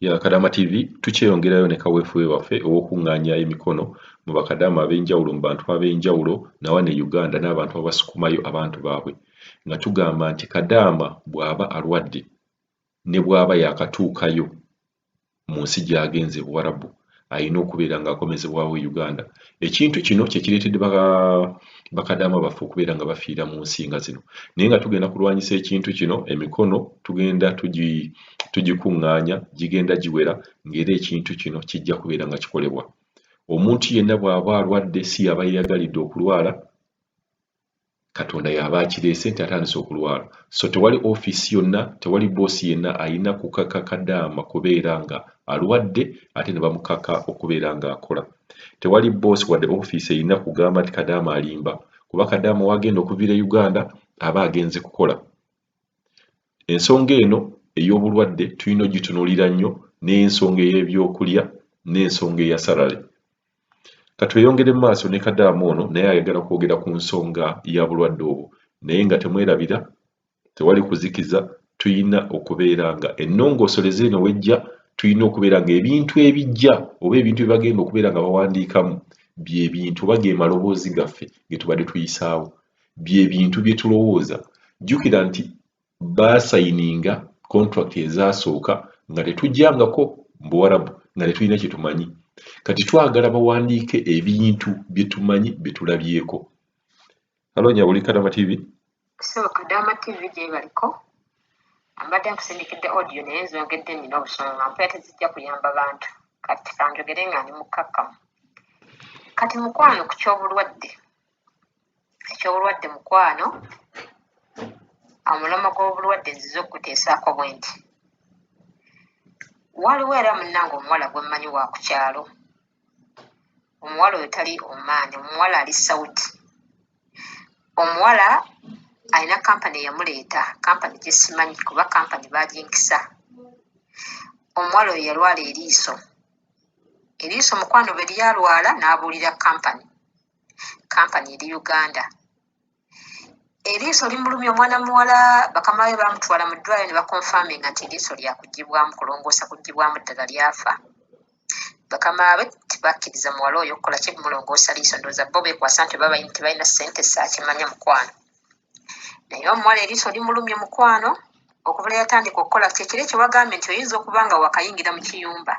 ya Kadaama TV tukyeyongerayo ne kaweefube waffe ow'okuŋŋaanya emikono mu bakadaama ab'enjawulo mu bantu ab'enjawulo nawa ne Uganda n'abantu abasukumayo abantu baabwe nga tugamba nti kadaama bw'aba alwadde ne bw'aba yaakatuukayo mu nsi gy'agenze Buwarabu alina okubeera ng'akomezebwawo e Uganda. Ekintu kino kye kireetedde bakadaama baffe okubeera nga bafiira mu nsi nga zino. Naye nga tugenda kulwanyisa ekintu kino, emikono tugenda tugikuŋŋaanya, gigenda giwera ng'era ekintu kino kijja kubeera nga kikolebwa. Omuntu yenna bw'aba alwadde si y'aba yeeyagalidde okulwala, Katonda y'aba akireese nti atandise okulwala. So tewali ofiisi yonna, tewali bboosi yenna alina kukaka kadaama kubeera nga alwadde ate ne bamukaka okubeera nga akola. Tewali bboosi wadde ofiisi erina kugamba nti kadaama alimba kuba kadaama w'agenda okuviira e Uganda aba agenze kukola. Ensonga eno ey'obulwadde tulina ogitunuulira nnyo n'ensonga ey'ebyokulya n'ensonga eya salary. Ka tweyongere mu maaso ne kadaama ono naye ayagala kwogera ku nsonga ya bulwadde obwo naye nga temwerabira tewali kuzikiza tulina okubeera nga ennongoosoleza eno wejja tulina okubeera nga ebintu ebijja oba ebintu bye bagenda okubeera nga bawandiikamu bye bintu oba ge maloboozi gaffe ge tubadde tuyisaawo bye bintu bye tulowooza. Jjukira nti baasayininga kontulakiti ezaasooka nga tetujjangako mu Buwarabu, nga tetulina kye tumanyi. Kati twagala bawandiike ebintu bye tumanyi bye tulabyeko. Halo Nyabuli Kadama TV. So Kadama TV gyebaliko mbadde nkusindikidde audio naye nzongedde nina obusonga mpera tezijja kuyamba bantu kati kanjogere nga ndi mukkakkamu kati mukwano ku ky'obulwadde ekyobulwadde mukwano omulomo gwobulwadde nzize okukuteesaako bwe nti waliwo era munnange omuwala gwe mmanyi wa ku kyalo omuwala oyo tali omaani omuwala ali saudi omuwala alina kampani eyamuleeta kampani gyesimanyi kuba kampani baginkisa omuwala oyo yalwala eriiso eriiso mukwano bwe lyalwala n'abuulira kampani kampani eri uganda eriiso limulumya omwana muwala bakama be bamutwala mu ddwaliro ne bakonfaminga nti eriiso lyakugibwamu kulongoosa kugibwamu ddala lyafa bakama be tebakkiriza muwala oyo okukola ki mulongoosa liiso ndooza bo bekwasa nti oba bayini tebalina ssente saakimanya mukwano naye omuwala eriiso limulumya mukwano okubula yatandika okukola kyekiri kyewagambye nti oyinza okuba nga wakayingira mu kiyumba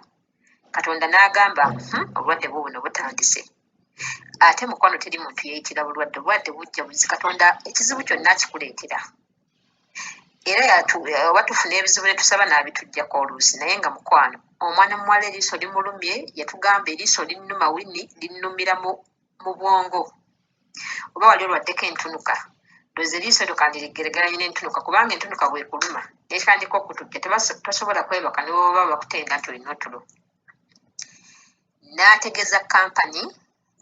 katonda n'agamba hmm, obulwadde bwo buno butandise hmm? ate mukwano teri muntu yeyitira bulwadde obulwadde bujja buzi katonda ekizibu kyonna akikuleetera era oba tufuna ebizibu netusaba naabitujjako oluusi naye nga mukwano omwana muwala eriiso limulumye yatugamba eriiso linnuma wini linnumira mu bwongo oba wali olwaddeko entunuka ndozi eriiso eryo kandiriggeregeranye n'entunuka kubanga entunuka bwekuluma nekandika okutujja tosobola kwebaka newooba bakutenga nti olina otulo n'ategeeza kkampani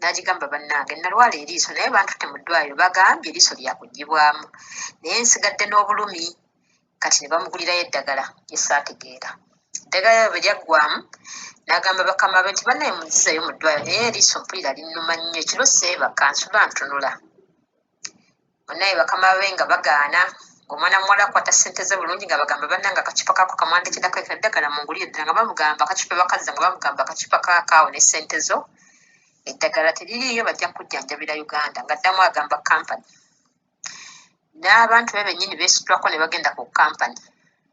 n'agigamba bannange nalwala eriiso naye bantutte mu ddwaliro bagambye eriiso lyakugibwamu naye nsigadde n'obulumi kati ne bamugulirayo eddagala lyesaategeera eddagala lyo bwe lyaggwamu n'agamba bakama be nti bannaye munzizayo mu ddwaliro naye eriiso mpulira linnuma nnyo ekiro seebaka nsula ntunula banaye bakama babe nga bagaana omwana muwala akwata sente ze bulungi nga bagamba bananga akacupa kako kamwandikidako eddagala mu nguli eddala nga bamugamba akacupa bakazza nga bamugamba akacupa kakaawo ne sente zo eddagala teririiyo bajja kujjanjabira uganda nga ddamu agamba kampany n'abantu be bennyini beesitulako ne bagenda ku kampany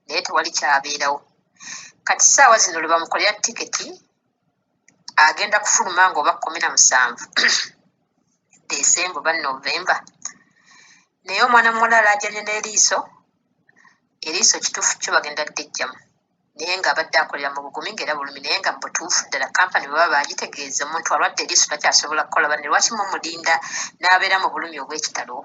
naye tewali kyabeerawo kati saawa zino lwe bamukolera tiketi agenda kufuluma nga oba kumi na musanvu desemba oba novemba naye omwana muwala alajanye n'eriiso eriiso kituufu kyo bagenda ddejjamu naye nga abadde akolera mu bugumi nga era bulumi naye nga mu butuufu ddala kampani bwebaba bagitegeeza omuntu alwadde eriiso takyasobola kukola banne lwaki mumulinda n'abeera mu bulumi obw'ekitalo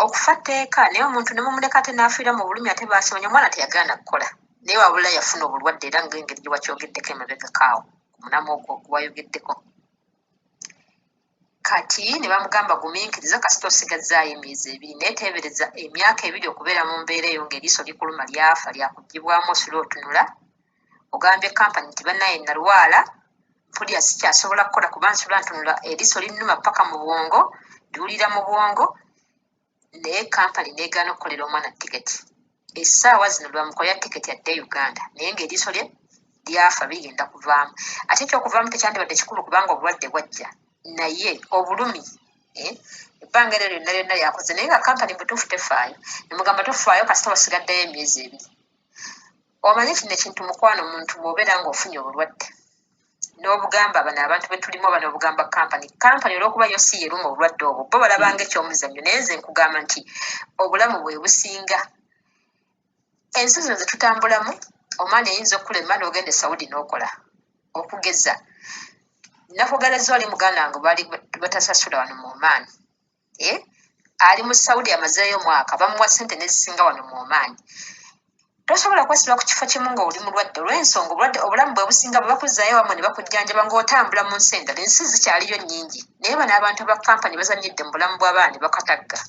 okufa tteeka naye omuntu ne mumuleka ate n'afiira mu bulumi ate baasoonya omwana teyagaana kukola naye wabula yafuna obulwadde era ng'engeri gye wakyogeddeko emabegako awo omunamu ogwo gwayogeddeko kati ne bamugamba gumiikiriza kasita osigazzaayo emyezi ebiri naye teebereza emyaka ebiri okubeera mu mbeera eyo ng'eriiso likuluma lyafa lyakugibwamu osula otunula ogambye company nti banaye nalwala mpulira sikyasobola kukola kuba nsula ntunula eriso linnuma paka mu bwongo ndiwulira mu bwongo naye company negaana okukolera omwana tiketi esaawa zino lwamukolera tiketi adde e uganda naye ngaeriso lye lyafa bigenda kuvaamu ate ekyokuvaamu tekyandibadde kikulu kubanga obulwadde bwajja naye obulumi eh, ebbanga eryo lyonna lyonna lyakoze naye nga kampani mutuufu tefaayo nemugamba tufaayo kasita wasigaddeyo emyezi ebiri Omanyi kino ekintu mukwano omuntu bw'obeera ng'ofunye obulwadde n'obugamba bano abantu be tulimu oba n'obugamba kampani kampani olw'okuba yo si yeruma obulwadde obwo bo balabanga eky'omuzannyo naye nze nkugamba nti obulamu bwe businga ensi zino ze tutambulamu omwana eyinza okukulema n'ogenda e saudi n'okola okugeza nakugala zoli muganda wange bali batasasula wano mu omaani eh? ali mu saudi amazeeyo omwaka bamuwa sente nezisinga wano mu omaani tosobola kwesiba ku kifo kimu ngaoli mulwadde olwensonga obulwadde obulamu bwe businga bwe bakuzaayo wamwe ne bakujjanjaba ngaotambula mu nsi endala ensi zikyaliyo nnyingi naye bano abantu ba kampani bazanyidde mu bulamu bw'abaana bakatagga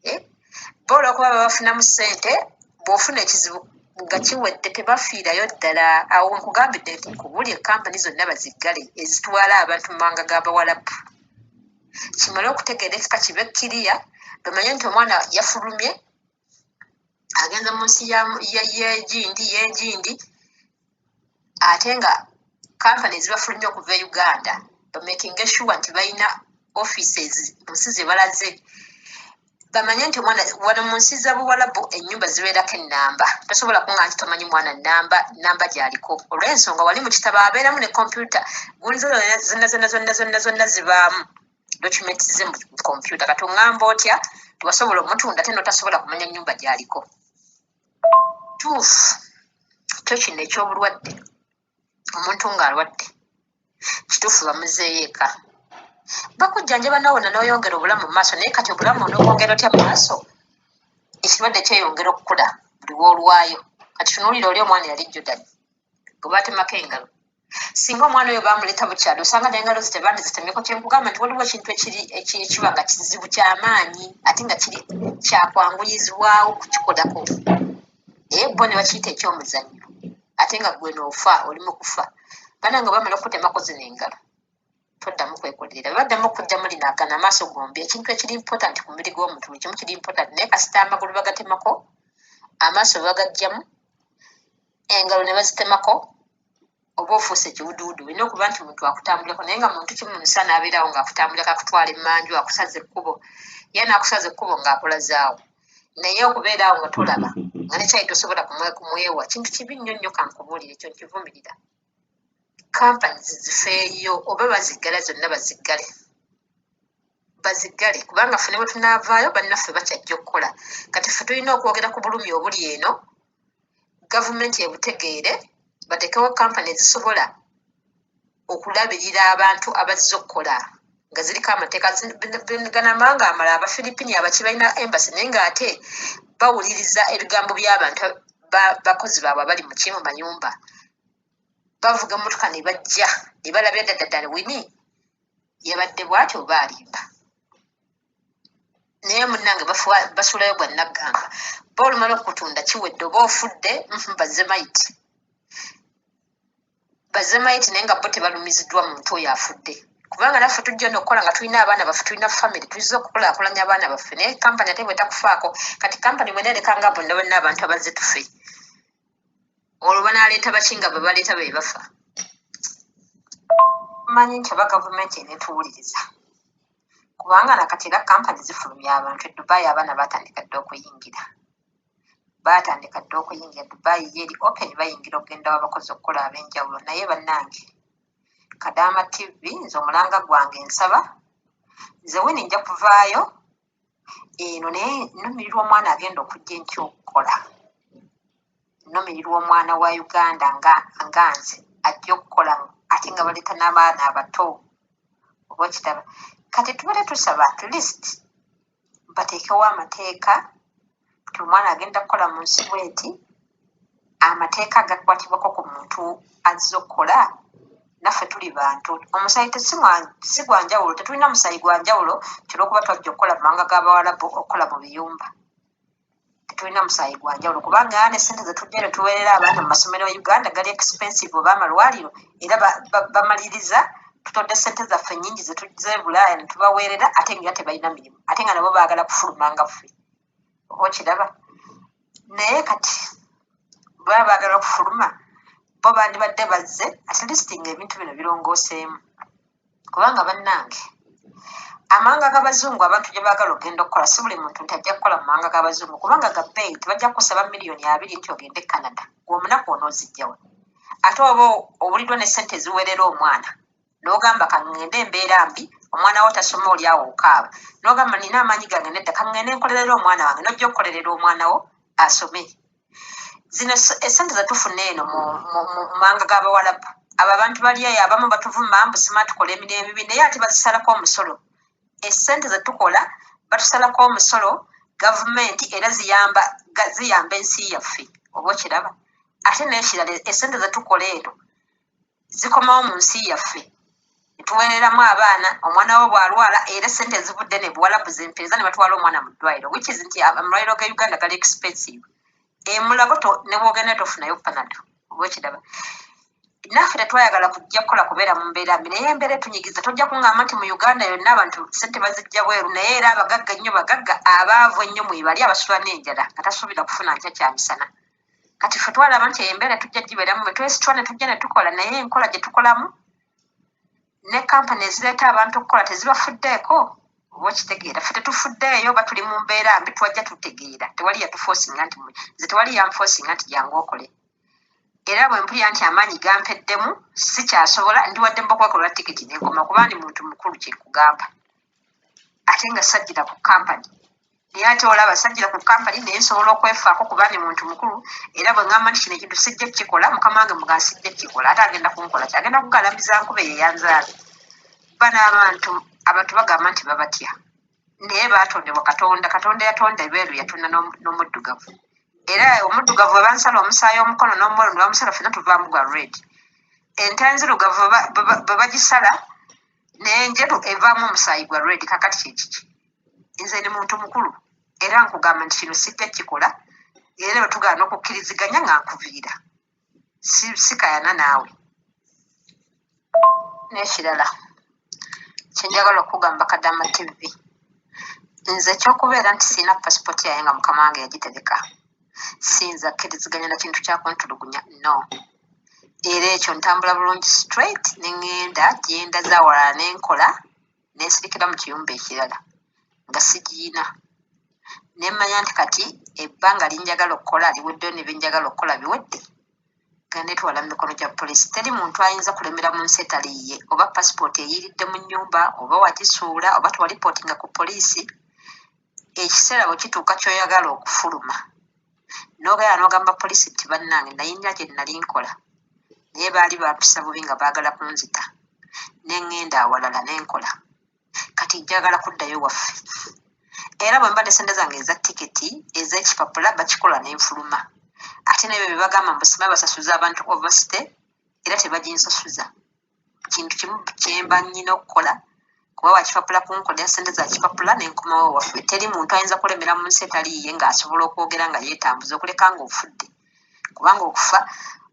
eh? boola okuba babafunamu ssente bw'ofuna ekizibu nga kiwedde tebafiirayo ddala awo nkugambidde nti kubuli ekampani zonna baziggale ezitwala abantu mu mawanga g'abawalabu kimale okutegeera ekika kibe kiriya bamanye nti omwana yafulumye agenda mu nsi yegindi yegindi ate nga kampani ezibafulumye okuva e uganda bamakinga eshuwa nti balina offices mu nsi zebalaze bamanye nti omwana wano mu nsi za buwalabu ennyumba zibeerako ennamba tosobola kunga nti tomanyi mwana namba namba gyaliko olw'ensonga wali mu kitabo abeeramu ne kompyuta gunzo zonna zonna zonna zonna zonna zibaamu document ze mu kompyuta kati oŋŋamba otya tiwasobola omutunda te notasobola kumanya nnyumba gyaliko tuufu kyo kino eky'obulwadde omuntu ng'alwadde kituufu bamuzeeyo eka bakujjanjaba nawona n'oyongera obulamu mu maaso naye kati obulamu onobwongera otya mu maaso ekirwadde kyeyongera okukula buli woolwayo kati tunuulira oli omwana yali jjudani gwe baatemako engalo singa omwana oyo baamuleeta bukyalo osanga nengalo ze tebandi zitemyeko kyenkugamba nti waliwo ekintu ekiba nga kizibu kyamaanyi ate nga kiri kyakwanguyizibwawo kukikolako naye bo ne bakiyita ekyomuzannyo ate nga gwe noofa oli mu kufa bana nga bamala okukutemako zino engalo toddamu kwekolerera baddamu okujjamu lino agana amaaso gombi ekintu ekiri important ku mubiri gw'omuntu buli kimu kiri important naye kasita amagulu bagatemako amaaso bagajjamu engalo ne bazitemako oba ofuuse ekiwuduwudu olina okuba nti muntu akutambulirako naye nga muntu kimu musa naabeerawo ngaakutambulira kakutwala emanju akusaza ekkubo ye naakusaza ekkubo ng'akola zaawo naye okubeeraawo nga tolaba nga nekyayi tosobola kumwewa kintu kibi nnyo nnyo kankubuulire ekyo nkivumirira kampani zizifeeyo oba baziggala zonna baziggale baziggale kubanga ffe ne bwe tunaavaayo bannaffe bakyajja okukola kati ffe tulina okwogera ku bulumi obuli eno gavumenti ebutegeere batekewo kampani ezisobola okulabirira abantu abazze okukola nga ziriko amateeka ganamba nga amala abafilipini abaki balina embasi naye nga ate bawuliriza ebigambo by'abantu bakozi baabwe abali muki mu mayumba bavuga emotoka ne bajja ne balabira daddadala wini yabadde bwati oba alimba naye munange basulayo gwa naggamba ba olumala okutunda kiwedde oba ofudde mhm, bazemayiti bazemayiti naye nga bo tebalumiziddwa muntu oyo afudde kubanga naffe tujja nokukola nga tulina abaana baffe tulina famiry tuyiza okukulakulanya abaana baffe naye kampani ate bwetakufaako kati kampani bwenerekanga bonna bonna abantu abazze tufe olwo banaleeta baki nga bebaleeta bebafa manyi nti oba gavumenti enetuwuliriza kubanga nakati era kampani zifulumya abantu edubayi abaana batandika dde okuyingira batandika dde okuyingira dubayi yeri open bayingira okugenda wabakozi okukola abenjawulo naye bannange kadaama tv nze omulanga gwange nsaba nze wini nja kuvaayo eno naye numirirwa omwana agenda okujja enkya okukola numirirwa omwana wa uganda nga nga nze ajja okukola ate nga baleeta n'abaana abato oba okitaba kati tubadde tusaba at least bateekewo amateeka nti omwana agenda kukola mu nsi bweti amateeka agakwatibwako ku muntu azze okukola naffe tuli bantu omusayi si gwa njawulo tetulina musayi gwa njawulo kyolwokuba twajja okukola mu mawanga g'abawalabu okukola mu biyumba tetulina musayi gwa njawulo kubanga ane sente zetujja ne tuweerera abaana mu masomero e uganda gali expensive oba amalwaliro era bamaliriza tutodde sente zaffe nyingi zetuzze e bulaaya ne tubaweerera ate nga tebalina mirimu ate nga nabo baagala kufulumanga ffe okiraba naye kati baba baagala okufuluma bo bandibadde bazze atleast nga ebintu bino birongooseemu kubanga bannange amawanga g'abazungu abantu gye baagala ogenda okukola si buli muntu nti ajja kukola mu mawanga g'abazungu kubanga gabbeeyi tebajja kukusaba miliyoni abiri nti ogende e canada gwe omunaku onoozijjawa ate oba owuliddwa ne ssente eziweerera omwana nogamba kangende embeera mbi omwana wo tasoma oli awo okaaba nogamba nina amaanyi gange nedda kangende nkolerera omwana wange nojja okukolerera omwana wo asome zino esente zetufuna eno mu mawanga g'abawalabu abo abantu balyayo abamu batuvuma mbu sima tukola emirimu emibi naye ate bazisalako omusolo esente zetukola batusalako omusolo gavumenti era ziyamba ziyamba ensi yaffe oba okiraba ate nekirala esente zetukola eno zikomawo mu nsi yaffe tuwereramu abaana omwana wo bwalwala era sente ezivudde ne buwalabu zimpeeza ne batwala omwana mu ddwaliro which is nti amalwaliro ga uganda gali expensive emulago ne bwogenda tofunayo panado oba okiraba naffe tetwayagala kujja kukola kubeera mu mbeera mbi naye embeera etunyigiza tojja kuŋŋamba nti mu uganda yonna abantu sente bazijja bweru naye era abagagga ennyo bagagga abaavu ennyo mwebali abasula n'enjala nga tasuubira kufuna nkya kyamisana kati fe twalaba nti embeera tujja gibeeramu bwe twesitwa ne tujja ne tukola naye enkola gye tukolamu ne kampani ezireeta abantu okukola tezibafuddeeko oba okitegeera fe tetufuddeeyo oba tuli mu mbeera mbi twajja tutegeera tewali yatufosinga nti nze tewali yanfosinga nti jangu okole era bwe mpulira nti amaanyi gampeddemu sikyasobola ndiwadde mbakubakolera tiketi nenkoma kuba ndi muntu mukulu kyekugamba ate nga sajjira ku kampani naye ate olaba sajjira ku kampani naye nsobola okwefaako kuba ndi muntu mukulu era bwe ŋamba nti kino ekintu sijja kukikola mukama wange muga sijja kukikola ate agenda kunkola ki agenda kugalambiza nkube yeyanzaala ba n'abantu abantu bagamba nti babatya naye baatondebwa katonda katonda yatonda ebeeru yatonda n'omuddugavu era omuddugavu we bansala omusaayi omukono n'omwoyo ne bamusala fena tuvaamu gwa red ente enzirugavu bwe bagisala naye njeru evaamu omusaayi gwa red kakati kyekiki nze ndi muntu mukulu era nkugamba nti kino sijja kikola era otugaana okukkiriziganya nga nkuviira sikayana naawe n'ekirala kyenjagala okugamba kadama tv nze ekyokubeera nti sirina pasipoti yaye nga mukama wange yagitereka siyinza akkiriziganya na kintu kyakuntulugunya no era ekyo ntambula bulungi straight ne ŋŋenda gyenda zawalala ne nkola nensirikira mu kiyumba ekirala nga sigiyina nemmanya nti kati ebbanga linjagala okukola liweddeyo ne byenjagala okukola biwedde nga netwala mu mikono gya poliisi teri muntu ayinza kulemera mu nsi etaliiye oba pasipooti eyiiridde mu nnyumba oba wagisuula oba twalipooti nga ku poliisi ekiseera bwe kituuka ky'oyagala okufuluma n'obeera n'ogamba poliisi nti bannange naye nnya gye nnali nkola naye baali bampisa bubi nga baagala kunzita ne ŋŋenda awalala ne nkola kati njagala kuddayo waffe era bwe mba ne ssente zange eza tiketi ez'ekipapula bakikola ne nfuluma ate nebyo bye bagamba mbu sima basasuza abantu overstay era tebaginsasuza kintu kimu kyemba nyina okukola kuba wakipapula kunkoda sente zakipapula nenkomawo waffe teri muntu ayinza kulemera mu nsi etaliiye ngaasobola okwogera nga yetambuza okuleka nga ofudde kubanga okufa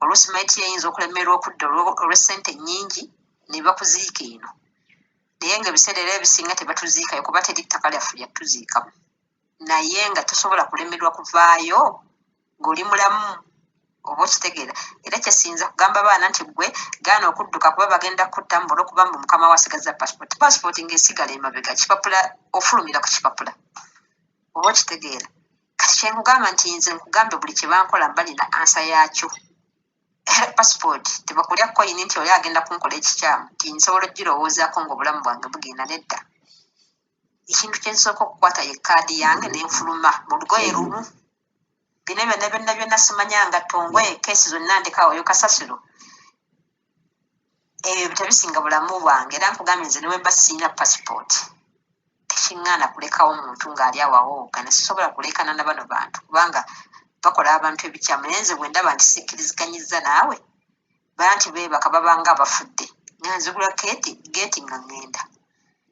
oluusi maiti yeyinza okulemerwa okudda olwesente nyingi nebakuziika eno naye nga ebiseera era ebisinga tebatuziikayo kuba teri ttaka lyaffe lyatuziikamu naye nga tosobola kulemerwa kuvaayo ng'oli mulamu oba okitegeera era kyesinza kugamba baana nti gwe gaana okudduka kuba bagenda kutta mubula okuba mbu mukama wasigaza passport passport ngaesigala emabega kipapula ofulumira ku kipapula oba okitegeera kati kyenkugamba nti nze nkugambe buli kyebankola mba nina ansa yakyo passport tebakulya koyini nti oli agenda kunkola ekikyamu ti nsobola ogirowoozaako ngaobulamu bwange bugenda nedda ekintu kyensooka okukwata ye kaadi yange nenfuluma mu lugoye lumu bino byonna byonna byonna simanya nga tongwe kesi zonna ndekawoyo kasasiro ebyo tebisinga bulamu bwange era nkugambye nze newemba siina passport tekiŋŋaana kulekawo muntu ng'ali awawooga ne sisobola kulekana na bano bantu kubanga bakola abantu ebikyamu naye nze bwe ndaba nti sikkiriziganyizza naawe banti beebaka babanga abafudde nga nzigula keeti geeti nga ŋŋenda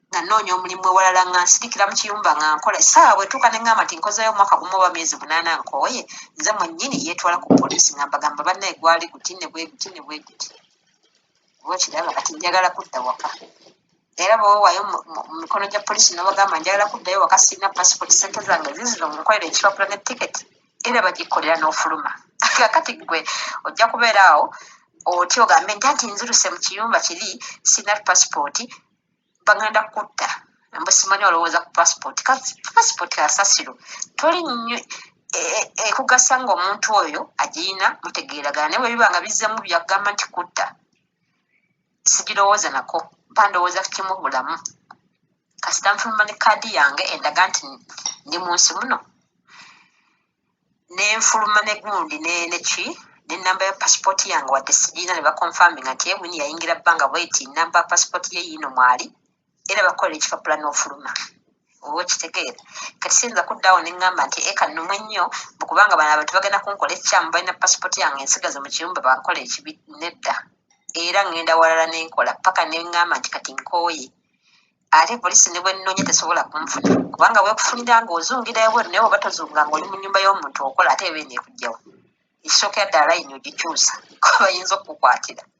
nga nnoonya omulimu ewalala nga nsirikira mu kiyumba nga nkola essaawa bwetuuka ne ŋŋamba nti nkozeeyo omwaka gumu oba myezi munaana nkooye nze mwennyini yeetwala ku poliisi nga mbagamba bannaye gwali guti ne bwe guti ne bwe guti oba okiraba kati njagala kudda waka era bwewewayo mu mikono gya poliisi nobagamba njagala kuddayo wakasirina passport sente zange zizino munkolera ekipapula ne tiketi era bagikolera n'ofuluma kakati gwe ojja kubeera awo otya ogambe nti anti nziruse mu kiyumba kiri sina pasipooti bagenda kutta mbusimanyi olowooza ku pasipooti pasipooti asasiro toli nnyo e, e, ekugasa ngaomuntu oyo agirina mutegeeragana naye bwebiba nga bizzemu byagamba nti kutta sigirowooza nako mpa ndowooza ku kimu bulamu kasita nfuluma ne kaadi yange endaga nti ndi mu nsi muno nenfuluma ne gundi neki nenamba ya pasipooti yange wadde sigiina ne bakonfaminga nti ebwini yayingira bbanga bweti namba pasipooti ye yiino mwali era bakukolera ekipapula n'ofuluma oba okitegeera kati siyinza kuddaawo ne ŋŋamba nti eka nnumwe nnyo bukubanga bano abantu bagenda kunkola ekikyamu balina pasipooti yange ensigaze mu kiyumba bankola ekibi nedda era ŋŋenda walala ne nkola paka ne ŋŋamba nti kati nkooye ate poliisi ne bwe nnoonya tesobola kunfuna kubanga bwekufunira nga ozungira ebweru naye oba tozunga nga oli mu nnyumba y'omuntu okola ate eba eneekugjawo ekisookera ddala layini ogikyusa kuba bayinza okukukwatira